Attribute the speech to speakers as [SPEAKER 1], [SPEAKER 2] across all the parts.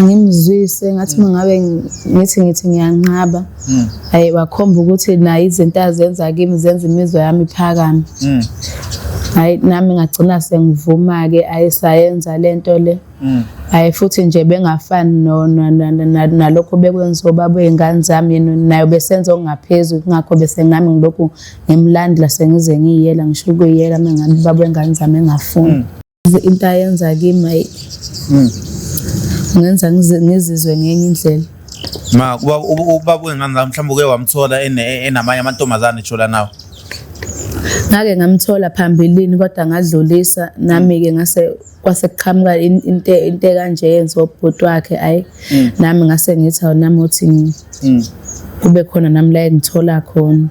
[SPEAKER 1] angimzwise ngathi uma ngabe ngithi ngithi ngiyanqaba hayi wakhomba ukuthi naye izinto azenza kimi zenza imizwa yami iphakame hayi nami ngagcina sengivuma-ke ayisayenza le nto le hayi futhi nje bengafani nalokho bekwenziwa ubaba wey'ngane zami yena nayo besenza okungaphezulu kungakho bese ngami ngilokhu ngimlandela sengize ngiyiyela ngisho ukuyiyela uma ngabe ubaba wey'ngane zami engafuni into ayenza kimi ayi hmm. ngenza ngizizwe ngenye indlela ma
[SPEAKER 2] ubaba wengane la mhlawumbe uke wamthola enamanye amantombazane tshola nawo
[SPEAKER 1] ngake ngamthola phambilini kodwa ngadlulisa nami-ke ngase kwase kuqhamuka into into kanje yenziwa ubhuti wakhe ayi hmm. nami ngase ngithi awunami uthi hmm. kube khona nami la engithola khona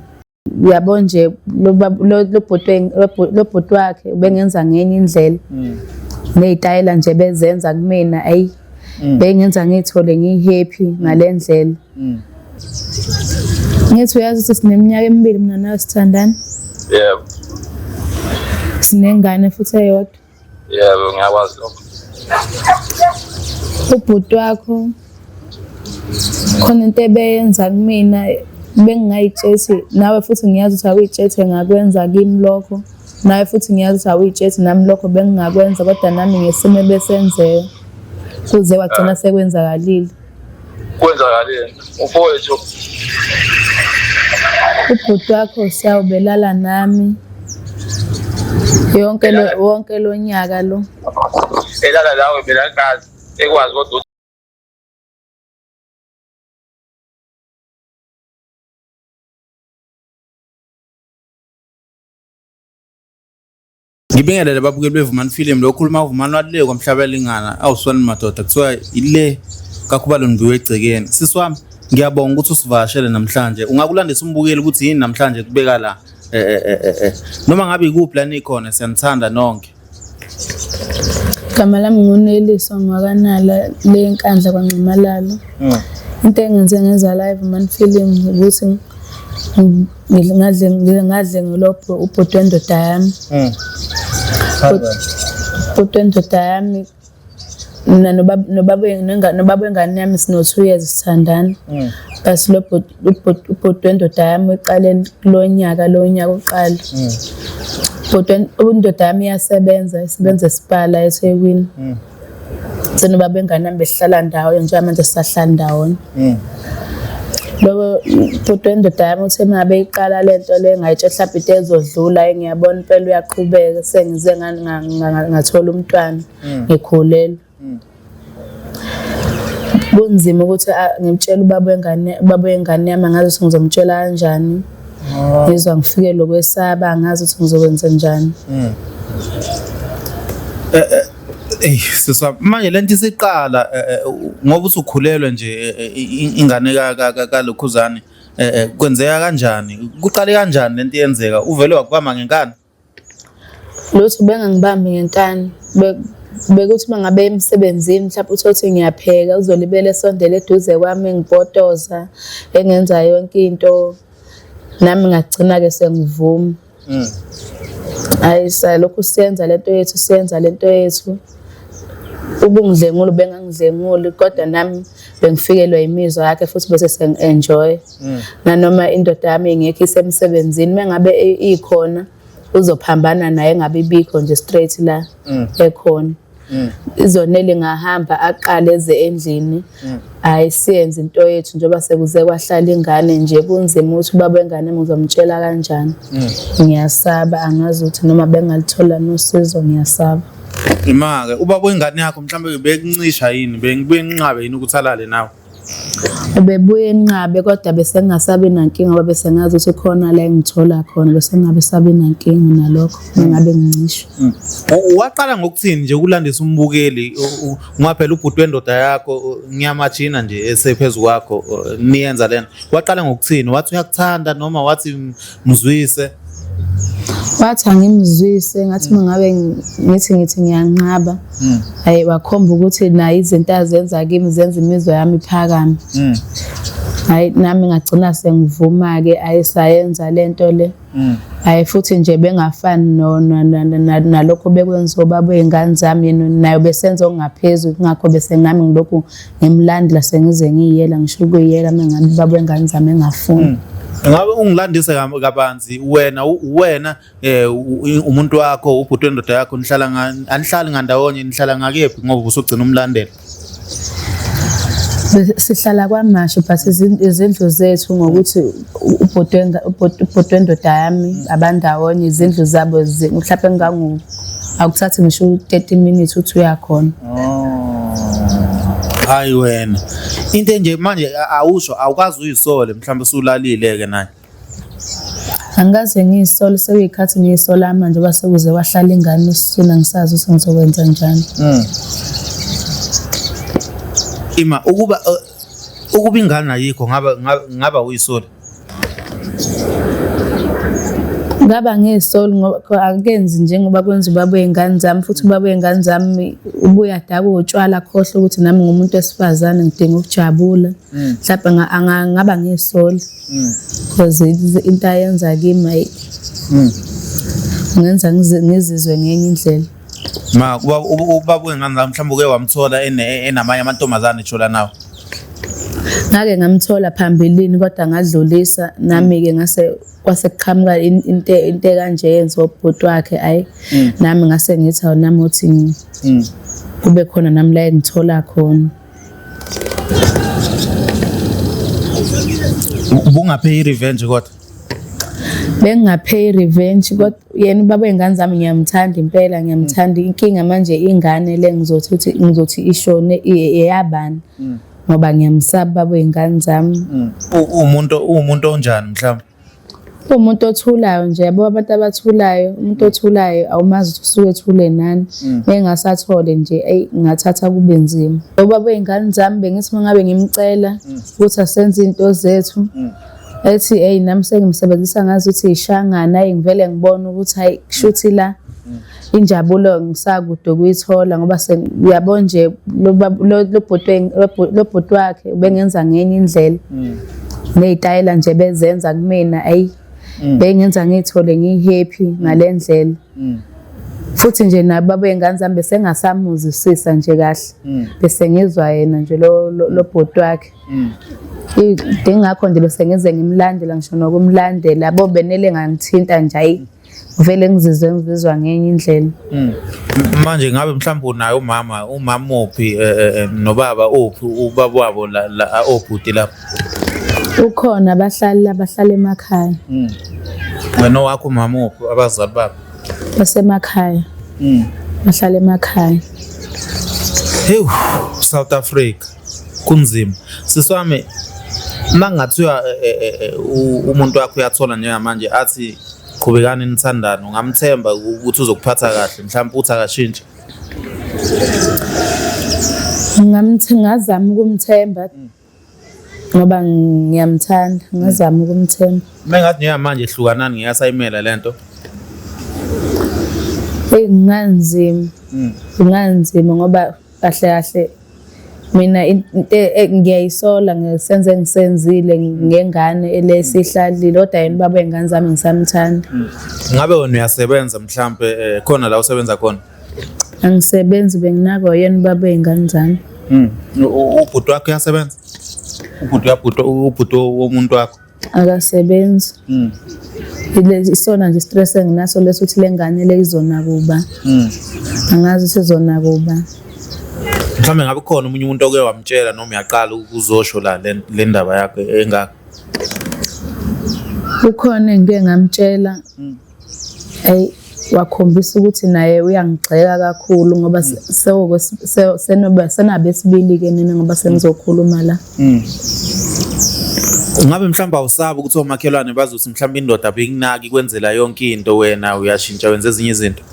[SPEAKER 1] uyabo nje lobhuti wakhe ubengenza ngenye indlela mm. ney'tayela nje bezenza kumina ayi mm. bengenza ngiyithole ngiyi-happy mm. ngale ndlela ngithi uyazi ukuthi sineminyaka emibili mina nawe sithandana yebo sinengane futhi eyodwa yebo
[SPEAKER 3] ngiyakwazi lokho
[SPEAKER 1] ubhuti wakho khona into ebeyenza kumina bengingayitshesi nawe futhi ngiyazi ukuthi awuyitshese ngakwenza kimi lokho nawe futhi ngiyazi ukuthi awuyitshesi nami lokho bengingakwenza kodwa nami ngesimo ebesenzeka kuze wagcina sekwenzakalile
[SPEAKER 3] kwenzakaleni
[SPEAKER 1] mfowethu ubhuti wakho siyawubelala nami yonke lo wonke lo nyaka lo elala
[SPEAKER 3] lawe mina ngazi ekwazi kodwa
[SPEAKER 2] Ngibingelele babukeli bevumani film lo khuluma uvumani walile kwamhlaba elingana awuswani madoda kuthiwa ile kakhubalo ndibiwe egcekeni sisi wami ngiyabonga ukuthi usivakashele namhlanje ungakulandisa umbukeli ukuthi yini namhlanje kubeka la eh, eh, eh, eh, eh. noma ngabe ikuphi la nikhona siyanithanda nonke Igama
[SPEAKER 1] lami nguNeliso Ngwakanala le nkandla kwaNxamalalo. Into engenze ngenza live man film ukuthi ng- ngingaze ngingaze ngilophe ubhuti wendoda yami mm. ubhuti wendoda yami mina nobaba wengane yami sino-two years sithandana mm. basi lo ubhuti wendoda yami uqale kulo nyaka lo nyaka uqala mm. bhuti indoda yami iyasebenza isebenza esibhala esekwini senoba bengane nami besihlala ndawonye njengamanje sisahlala ndawonye mm. loko bhuti wendoda yami uthe mina beyiqala le nto le ngayitshe mhlawumbe into ezodlula ngiyabona impela uyaqhubeka sengize ngathola umntwana mm. ngikhulelwe mm. kunzima ukuthi ngimtshele ubaba wengane ubaba wengane yami angazi ukuthi ngizomtshela kanjani ah. ngizwa ngifike lokwesaba angazi ukuthi ngizokwenza njani eh, eh,
[SPEAKER 2] Ey sisa manje lento isiqala eh, eh, ngoba usukhulelwe nje eh, ingane kalokhuzane kwenzeka kanjani kuqale kanjani lento yenzeka uvele wakubamba ngenkani
[SPEAKER 1] lutho bengangibambi ngenkani bekuthi uma ngabe emsebenzini mhlawumbe uthole ukuthi ngiyapheka uzolibele esondele eduze kwami engipotoza engenza yonke into nami ngagcina-ke sengivuma mm. hayi salokhu siyenza lento yethu siyenza lento yethu ubungidlengula ubengangidlenguli kodwa nami bengifikelwa yimizwa yakhe futhi bese sengi-enjoy mm. nanoma indoda yami ingekho isemsebenzini uma ngabe ikhona uzophambana naye ngabe ibikho nje straight la mm. ekhona mm. izonele ngahamba aqale eze endlini mm. hayi siyenze into yethu njengoba sekuze kwahlala ingane nje kunzima ukuthi ubaba wengane ngizomtshela kanjani mm. ngiyasaba angazi ukuthi noma bengalithola nosizo ngiyasaba Imake
[SPEAKER 2] ubaba wengane yakho mhlawumbe bekuncisha yini bengibuye nginqabe yini ukuthi alale nawe Ubebuye
[SPEAKER 1] enqabe kodwa besengasabi nankinga ngoba besengazi ukuthi khona la engithola khona besengabe sabi nankinga nalokho ngingabe ngincishwe. Mm. Waqala
[SPEAKER 2] ngokuthini nje ukulandisa umbukeli ngoba phela ubhuti wendoda yakho ngiyamajina nje esephezulu kwakho niyenza lena. Waqala ngokuthini wathi uyakuthanda noma wathi mzwise
[SPEAKER 1] wathi angimzwise ngathi hmm. mangabe ngithi ngithi ngiyanqaba hmm. hayi wakhomba ukuthi naye izinto azenza kimi zenza imizwa yami iphakame hmm. hayi nami ngagcina sengivuma-ke ayisayenza le nto le hayi futhi nje bengafani nalokho bekwenziwa ubaba wey'ngane zami nayo besenza okungaphezulu kungakho besenami ngilokhu ngimlandela sengize ngiyela ngisho ukuyela mengabe baba wengane zami engafuni hmm. ngabe
[SPEAKER 2] ungilandise kabanzi wena wena eh, umuntu wakho ubhuti wendoda yakho nihlala anihlali ngandawonye nihlala ngakephi ngoba usugcina umlandela
[SPEAKER 1] sihlala kwamasho but izindlu zethu ngokuthi ubhuti wendoda yami abandawonye izindlu zabo mhlawumbe engangu akuthathi ngisho 30 minutes uthi uyakhona
[SPEAKER 2] hayi wena into enje manje awusho awukazi uyisole mhlawumbe usulalile ke naye
[SPEAKER 1] angikaze ngiyisole sekuyikhathi ngiyisola manje base kuze wahlala ingane usina ngisazi ukuthi ngizokwenza njani
[SPEAKER 2] hmm. ima ukuba uh, ukuba ingane ayikho ngaba ngaba uyisole
[SPEAKER 1] ngaba ngesoli ngoba akenzi njengoba kwenza ubaba wey'ngane zami futhi ubaba wey'ngane zami ubuye adakwe utshwala akhohlwe ukuthi nami ngumuntu wesifazane ngidinga ukujabula mm. mhlawumbe ngaba ngesoli because mm. into ayenza kimi mm. ngenza ngizizwe ngenye indlela Ma ubaba
[SPEAKER 2] ubaba wengane zami mhlawumbe uke wamthola ene- enamanye amantombazane tsho la nawe.
[SPEAKER 1] ngake ngamthola phambilini kodwa ngadlulisa nami-ke ngase kwase kuqhamuka in- into into ekanje yenziwa ubhuti wakhe ayi Mm. nami ngase ngithi awu nami uthi ngi- Mm. kube khona nami la engithola khona
[SPEAKER 2] Ubungaphe i-revenge kodwa.
[SPEAKER 1] bengingapheyi revenge kodwa yena ubaba wey'ngane zami ngiyamthanda impela ngiyamthanda mm. inkinga manje ingane le ngizothi ukuthi ngizothi ishone eyabani mm. ngoba ngiyamsaba ubaba wey'ngane zami mm. umuntu
[SPEAKER 2] uwumuntu onjani mhlawumbe umuntu
[SPEAKER 1] othulayo nje yabo abantu abathulayo umuntu othulayo awumazi ukuthi usuke ethule nani engasathole nje eyi ngathatha kube nzima ubaba wey'ngane zami bengithi uma ngabe ngimcela ukuthi asenze iy'nto zethu ethi eyi nami sengimsebenzisa ngazi ukuthi yishangana ayi ngivele ngibone ukuthi hayi kushuthi la injabulo ngisakude ukuyithola ngoba uyabo nje lo bhuti wakhe ubengenza ngenye indlela mm. ney'tayela nje bezenza kumina ayi mm. bengenza ngiyithole ngiyi-happy mm. ngale ndlela futhi nje nabo abey'ngane zami besengasamuzisisa nje kahle bese ngizwa yena nje lo bhuti wakhe Mm. Ngingakho nje bese ngize ngimlandela ngisho nokumlandela bo benele ngangithinta nje ayi vele ngizizwe ngizizwa ngenye indlela. Mm. Manje
[SPEAKER 2] ngabe mhlawumbe unaye umama umama uphi eh, eh, eh, nobaba uphi ubaba wabo la la obhuti lapho.
[SPEAKER 1] Ukhona abahlali abahlala emakhaya. Mm.
[SPEAKER 2] Wena wakho umama uphi abazali babo? Basemakhaya.
[SPEAKER 1] Mm. Bahlala emakhaya.
[SPEAKER 2] Hewu South Africa. kunzima sisi wami uma kungathiwa eh, eh, eh, umuntu wakho uyathola njengamanje athi qhubekani nithandane ungamthemba ukuthi uzokuphatha kahle mhlawumbe uthi akashintshe
[SPEAKER 1] ngingazama ukumthemba ngoba ngiyamthanda ngingazama ukumthemba uma ngathi njengamanje
[SPEAKER 2] hlukanani ngiyasayimela le nto eyi
[SPEAKER 1] kunganzima kunganzima hmm. ngoba kahle kahle mina into e, ngiyayisola ngesenze engisenzile ngengane elesihlalile kodwa yena baba wengane zami ngisamthanda hmm. ngabe wena
[SPEAKER 2] uyasebenza mhlambe eh, khona la usebenza khona angisebenzi
[SPEAKER 1] benginako yena baba wengane zami hmm.
[SPEAKER 2] ubhuti wakho uyasebenza ubhuti uyabhuti ubhuti womuntu wakho akasebenzi
[SPEAKER 1] mm. isona nje stress enginaso leso ukuthi lengane le izona kuba mm. angazi sizona kuba
[SPEAKER 2] mhlawumbe ngabe khona omunye umuntu oke wamtshela noma uyaqala ukuzosho la le ndaba yakhe engaka
[SPEAKER 1] ukhona engike ngamtshela mm. Hey wakhombisa ukuthi naye uyangigxeka kakhulu ngoba mm. sewoko senoba senabe esibili ke nina ngoba senizokhuluma la. Mm.
[SPEAKER 2] Ngabe mhlawumbe awusabi ukuthi omakhelwane bazothi mhlawumbe indoda abekunaki kwenzela yonke into wena uyashintsha wenza ezinye izinto.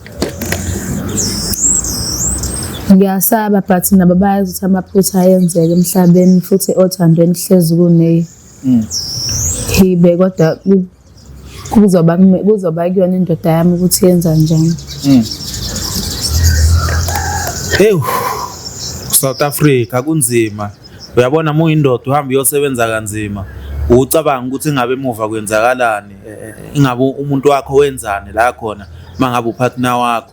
[SPEAKER 1] Ngiyasaba but nabo bayazi ukuthi amaphutha ayenzeka emhlabeni futhi othandweni hlezi kuneyi. Mm. Hibe kodwa kuzoba kuzoba kuyona indoda yami ukuthi yenza njani
[SPEAKER 2] mm. ewu South Africa kunzima uyabona mu indoda uhamba uyosebenza kanzima ucabanga ukuthi ingabe emuva kwenzakalani eh, eh, ingabe umuntu wakho wenzani la khona mangabe upartner wakho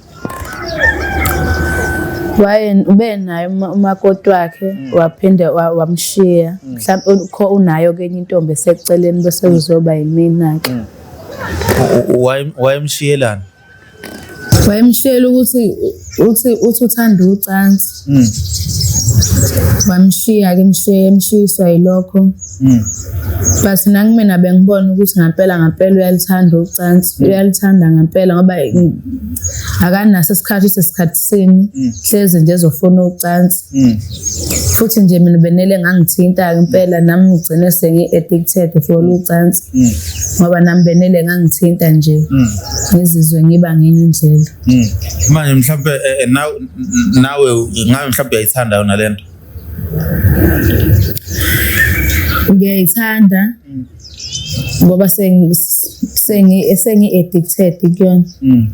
[SPEAKER 1] waye ube naye umakoti wakhe mm. waphinde wamshiya mm. mhlawumbe ukho unayo kenye intombi eseceleni bese mm. uzoba yimina ke
[SPEAKER 2] wayemshiyelana
[SPEAKER 1] wayemshiyela ukuthi uthi uthanda ucansi Mm. Wamshiya ke mshiye emshiyiswa yilokho. Mm. But nangimina bengibona ukuthi ngampela ngampela uyalithanda ucansi, mm. uyalithanda ngampela ngoba akanaso isikhathi sesikhathi sini, mm. hleze nje ezofuna ucansi. Mm. Futhi nje mina benele ngangithinta ke impela nami ngigcine sengi addicted for ucansi. Mm. Ngoba nami benele ngangithinta nje. Mm. Ngizizwe ngiba ngenye indlela. Mm. Manje
[SPEAKER 2] mhlawumbe eh, eh, nawe nawe ngabe mhlawumbe uyayithanda yona lento.
[SPEAKER 1] Ngiyayithanda mm. ngoba sengi sengi sengi addicted kuyona.
[SPEAKER 2] Mm.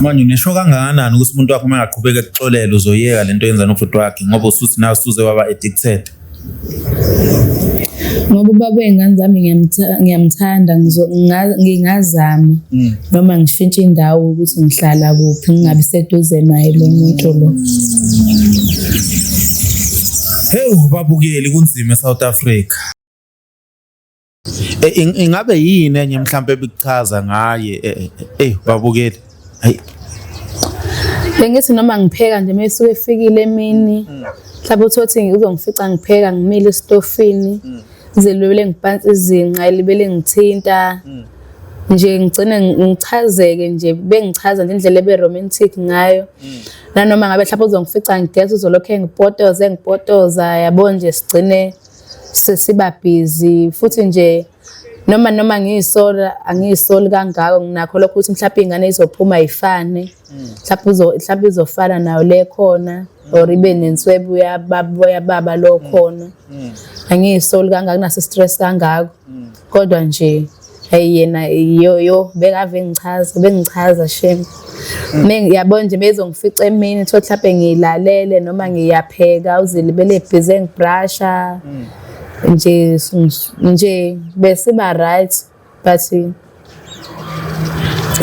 [SPEAKER 2] Manje unesho kangakanani ukuthi umuntu wakho uma engaqhubeka ekuxolela uzoyeka lento yenza nobhuti wakhe ngoba usuthi nawe usuze waba addicted.
[SPEAKER 1] ngoba ubaba wey'ngane zami ngiyamthanda ngingazama mm. noma ngishintshe indawo ukuthi ngihlala kuphi ngingabi seduze naye lo muntu lo
[SPEAKER 2] hewu babukeli kunzima e-south africa Eh, ingabe yini enye mhlawumbe ebikuchaza ngaye eh, eh, eh babukeli hayi
[SPEAKER 1] bengithi noma ngipheka nje mesuke efikile emini mhlawumbe uthi wathi uzongifica ngipheka ngimile estofini mm. zelwele ngiphansi izinqa elibele ngithinta mm. nje ngigcine ngichazeke nje bengichaza nje indlela ebe romantic ngayo mm. nanoma ngabe mhlawumbe uzongifica ngigeza uzolokhe ngipotoze ngipotoza yabo nje sigcine sesiba busy futhi nje noma noma ngiyisola angiyisoli kangako nginakho lokho ukuthi mhlawumbe ingane izophuma ifane mhlawumbe uzo mhlawumbe izofana nayo le khona or ibe nenswebu yababa yababa lo khona angiyisoli kangako naso stress kangako kodwa nje hey yena yo yo bekave ngichaza bengichaza shame mina yabo nje bezongifica emini thothi mhlawumbe ngilalele noma ngiyapheka uzilibele busy ngibrasha nje nje besiba right but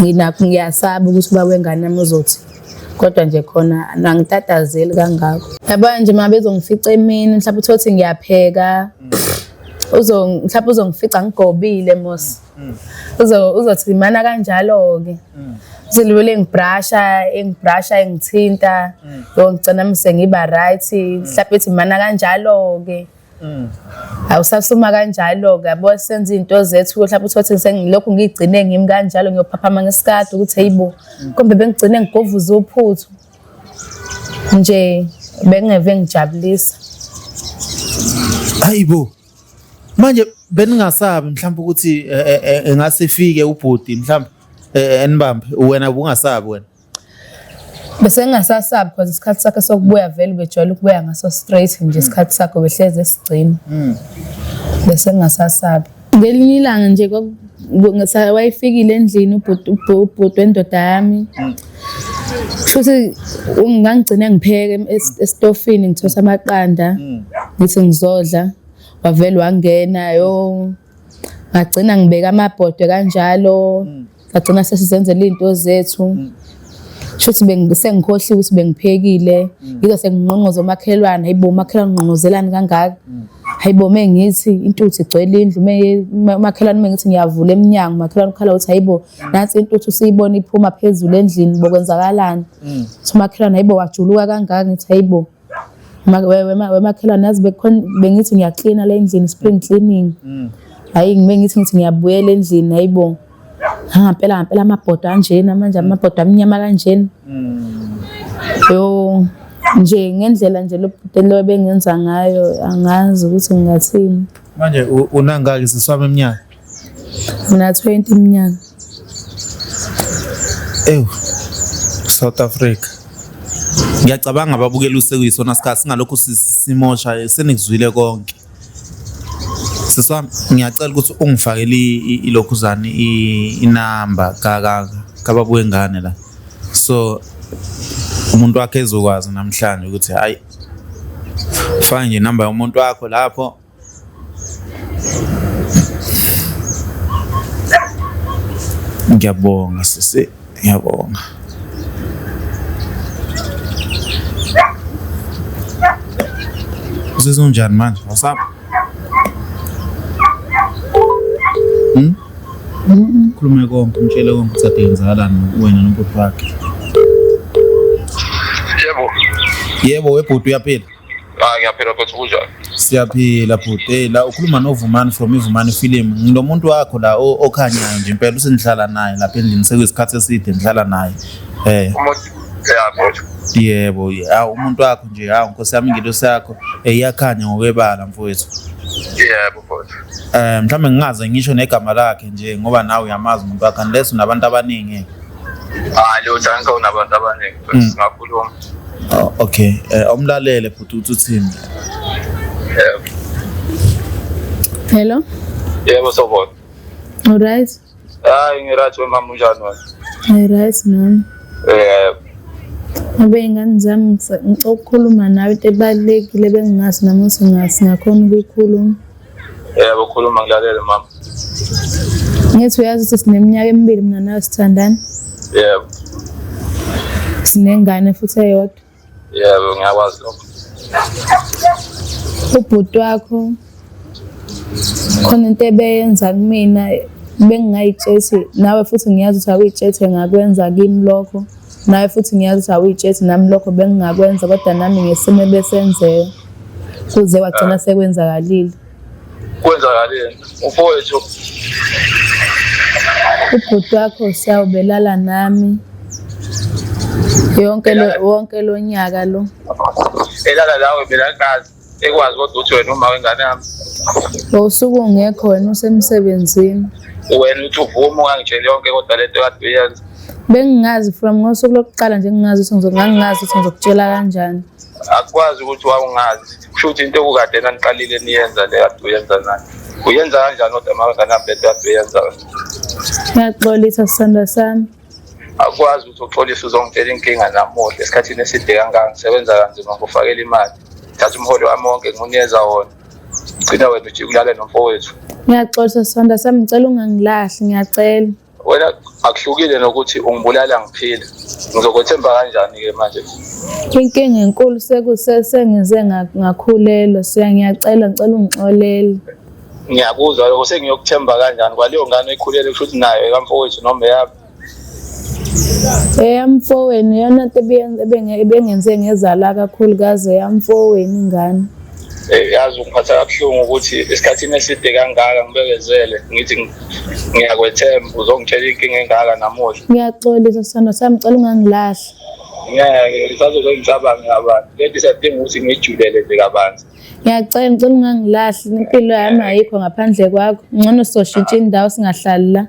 [SPEAKER 1] nginakho ngiyasaba ukuthi uba wengane yami uzothi kodwa nje khona angitatazeli kangako yabona nje uma bezongifica emini mhlawumbe uthole ukuthi ngiyapheka uzo mhlawumbe uzongifica ngigobile mos mm. uzo uzothi imana kanjalo ke mm. zilule engibrasha engibrasha engithinta mm. yo ngicela mise ngiba right mhlawumbe ithi imana kanjalo ke awusasuma kanjalo ke yabo senza izinto zethu mhlawumbe uthothi sengilokhu ngigcine ngimi kanjalo ngiyophaphama ngesikade ukuthi heyibo kombe bengigcine ngigovuza uphuthu nje bengingeve ngijabulisa
[SPEAKER 2] hayibo manje beningasabi mhlawumbe ukuthi eh, eh, eh, engase ifike ubhuti mhlawumbe enibambe wena ubungasabi wena
[SPEAKER 1] bese ngingasasabi because isikhathi sakhe sokubuya vele ubejwayele ukubuya ngaso straight nje hmm. isikhathi sakhe behlezi esigcina hmm. bese ngingasasabi ngelinye ilanga nje wayefikile endlini ubhuti wendoda yami mm. futhi ngangigcine ngipheke esitofini ngithosa amaqanda mm. ngithi ngizodla wavele wangena yo ngagcina ngibeka amabhodwe kanjalo mm. Ngagcina sesizenzela izinto zethu. Mm. Shuthi bengikhohliwe ukuthi bengiphekile. Mm. Ngize senginqonqoza omakhelwane, hayibo umakhelwane unqonqozelani kangaka? Mm. Hayibo mengithi intuthu igcwele indlu, umakhelwane mengithi ngiyavula eminyango, umakhelwane ukhala ukuthi hayibo nansi intuthu siyibona iphuma phezulu endlini bokwenzakalani? Umakhelwane hayibo wajuluka kangaka ngithi hayibo. wemakhelwane yazi bengithi ngiyaklina le ndlini spring cleaning mm. hayi ngibe ngithi ngithi ngiyabuyela endlini hayi bo ngampela ngampela amabhodo anjena manje amabhodo amnyama kanjena mm. yo nje ngendlela nje lobhuti lo bengenza ngayo angazi ukuthi ngingathini manje
[SPEAKER 2] unangaki siswaba eminyaka Ngina
[SPEAKER 1] 20 iminyaka. Ewu.
[SPEAKER 2] South Africa. Ngiyacabanga ababukela usekuyisona sikhathi singalokhu simosha senikuzwile konke. Siswa ngiyacela ukuthi ungifakele ilokhuzane inamba ka ka kababuye ngane la. So umuntu wakhe ezokwazi namhlanje ukuthi hayi faka nje inamba yomuntu wakho lapho Ngiyabonga sisi, ngiyabonga. Usizwa unjani manje? Wasap? Hmm? Khulume konke, umtshele konke ukuthi ade yenzakalani wena nobhuti wakhe. Yebo. Yebo, webhuti uyaphila.
[SPEAKER 3] Ah ngiyaphila futhi kunjani? Siyaphila
[SPEAKER 2] bhuti. Hey la ukhuluma noVumani from iVumani film. Ngilomuntu wakho la o- okhanyayo nje impela usengihlala naye lapha endlini sekuyisikhathi eside ngihlala naye. Eh Umuntu ya futhi. yebo ha umuntu wakho nje ha nkosi yami ingelosi yakho eh, iyakhanya ngokwebala mfowethu. Yebo futhi.
[SPEAKER 3] Eh mhlawumbe ngingaze
[SPEAKER 2] ngisho negama lakhe nje ngoba nawe uyamazi umuntu wakhe unless unabantu abaningi. Hayi
[SPEAKER 3] lutho angikho nabantu abaningi. Mm. singakhuluma
[SPEAKER 2] Oh, okay Eh, awumlalele bhuti ukuthi uthini
[SPEAKER 1] Eh, Hello. yebo
[SPEAKER 3] sobona Alright.
[SPEAKER 1] hayi
[SPEAKER 3] ngirathi wemama unjani wena Alright nami.
[SPEAKER 1] Eh, Abe ingane zami ngisa- ngicela ukukhuluma nawe into ebalekile bengingazi namuhla ngasingakhona ukuyikhuluma. Yebo
[SPEAKER 3] khuluma ngilalele mama.
[SPEAKER 1] Ngithi uyazi ukuthi sineminyaka emibili mina nawe sithandana. Yebo. Sinengane futhi eyodwa. Yebo ngiyakwazi
[SPEAKER 3] lokho.
[SPEAKER 1] Ubhuti wakho khona into ebeyenza kumina bengingayitsheli nawe futhi ngiyazi ukuthi awuyitsheli ngakwenza kimi lokho. naye futhi ngiyazi ukuthi awuyitshethi nami lokho bengingakwenza kodwa nami ngesimo ebesenzeka kuze wagcina sekwenzakalile
[SPEAKER 3] kwenzakaleni
[SPEAKER 1] ufowethu ubhuti wakho siyawubelala nami yonke lo wonke lo nyaka lo elala
[SPEAKER 3] lawe mina ngazi ekwazi kodwa ukuthi wena uma wengane yami ngosuku
[SPEAKER 1] ungekho wena usemsebenzini wena uthi
[SPEAKER 3] uvuma ungangitsheli yonke kodwa lento kade uyenza bengingazi
[SPEAKER 1] from ngosuku lokuqala nje ngingazi ukuthi ngizokungangingazi ukuthi ngizokutshela kanjani akwazi ukuthi
[SPEAKER 3] wawungazi kusho ukuthi into okukade naniqalile niyenza le kade uyenza nani uyenza kanjani kodwa mawengane yami lento kade uyenza
[SPEAKER 1] ngiyaxolisa sisanda sami akwazi
[SPEAKER 3] ukuthi uxolise uzongitshela inkinga namuhla esikhathini eside kangaka ngisebenza kanzima ngokufakela imali thatha umholo wami wonke ngiwunikeza wona gcina wena ujike ulale nomfowethu ngiyaxolisa
[SPEAKER 1] sonda sami ngicela ungangilahli ngiyacela wena
[SPEAKER 3] akuhlukile nokuthi ungibulala ngiphile ngizokwethemba kanjani-ke manje inkinga
[SPEAKER 1] enkulu sekusese ngize ngakhulelwa siyangiyacela ngicela ungixolele ngiyakuzwa
[SPEAKER 3] lokho sengiyokuthemba kanjani kwaleyo ngane oyikhulele kusho ukuthi nayo ekamfowethu noma eyami
[SPEAKER 1] eyamfowenu yona nto ebengenze ngezala kakhulukazi eyamfowenu ingane eh, yazi
[SPEAKER 3] ungiphatha kabuhlungu ukuthi esikhathini eside kangaka ngibekezele ngithi ngiyakwethemba uzongitshela inkinga engaka namuhla ngiyaxolisa sando
[SPEAKER 1] sami cela ungangilahli ngeke ngisazoke
[SPEAKER 3] ngicabanga kabanzi lento isadinga ukuthi ngiyijulele nje kabanzi Ngiyacela ngicela
[SPEAKER 1] ungangilahli impilo yami ayikho ngaphandle kwakho. Ngcono soshintsha indawo singahlali la.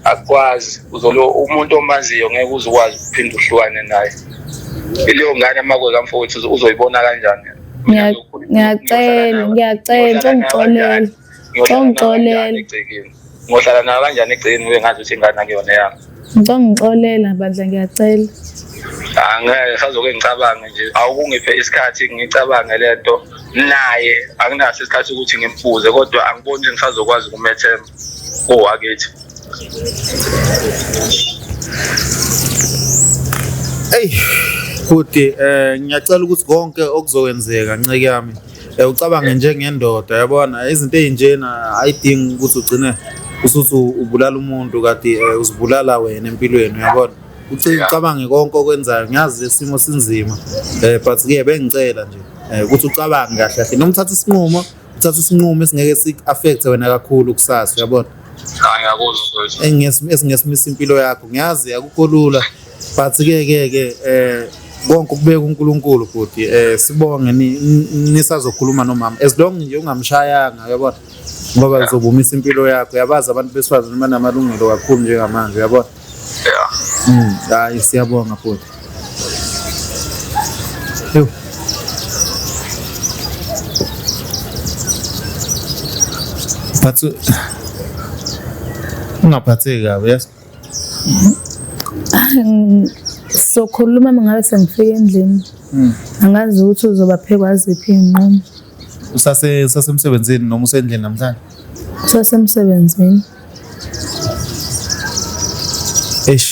[SPEAKER 1] Akwazi
[SPEAKER 3] uzolo umuntu omaziyo ngeke uzokwazi ukuphinde uhlukane naye. Leyo ngane amakwe kamfowethu uzoyibona kanjani? Ngiyacela
[SPEAKER 1] ngiyacela ngicela ungixolele. Ngixolele. Ngohlala
[SPEAKER 3] nayo kanjani egcekeni ngibe ngazi ukuthi ingane akuyona yami. Ngicela ngixolela
[SPEAKER 1] bandla ngiyacela. Angeke
[SPEAKER 3] sazoke ngicabange nje awukungiphe isikhathi ngicabange lento naye anginaso isikhathi ukuthi ngimfuze kodwa angiboni ukuthi ngisazokwazi ukumethemba owakithi.
[SPEAKER 2] Hey, futhi eh ngiyacela ukuthi konke okuzokwenzeka nceke yami Eh, ucabange njengendoda yabona izinto ezinjena ayidingi ukuthi ugcine usuthi ubulala umuntu kati eh, uzibulala wena empilweni yabona ucabange konke okwenzayo ngiyazi lesimo sinzima eh but ke bengicela nje eh, ukuthi ucabange kahle kahle noma uthatha isinqumo uthatha isinqumo esingeke si affect wena kakhulu kusasa yabona
[SPEAKER 3] engiyesimiso impilo yakho
[SPEAKER 2] ngiyazi akukho lula but ke ke ke eh konke ukubeka uNkulunkulu bhuti eh sibonge nisazokhuluma nomama as long nje ungamshayanga uyabona ngoba uzobumisa impilo yakho uyabazi abantu besifazane banamalungelo kakhulu njengamanje uyabona
[SPEAKER 3] yeah
[SPEAKER 2] mm hayi siyabonga bhuti But uh, ungaphatheki kabi yes
[SPEAKER 1] sokhuluma uma ngabe sengifika endlini hmm. angazi ukuthi uzobaphekwa ziphi iy'nqumo usasemsebenzini
[SPEAKER 2] noma usendlini namhlanje usasemsebenzini eish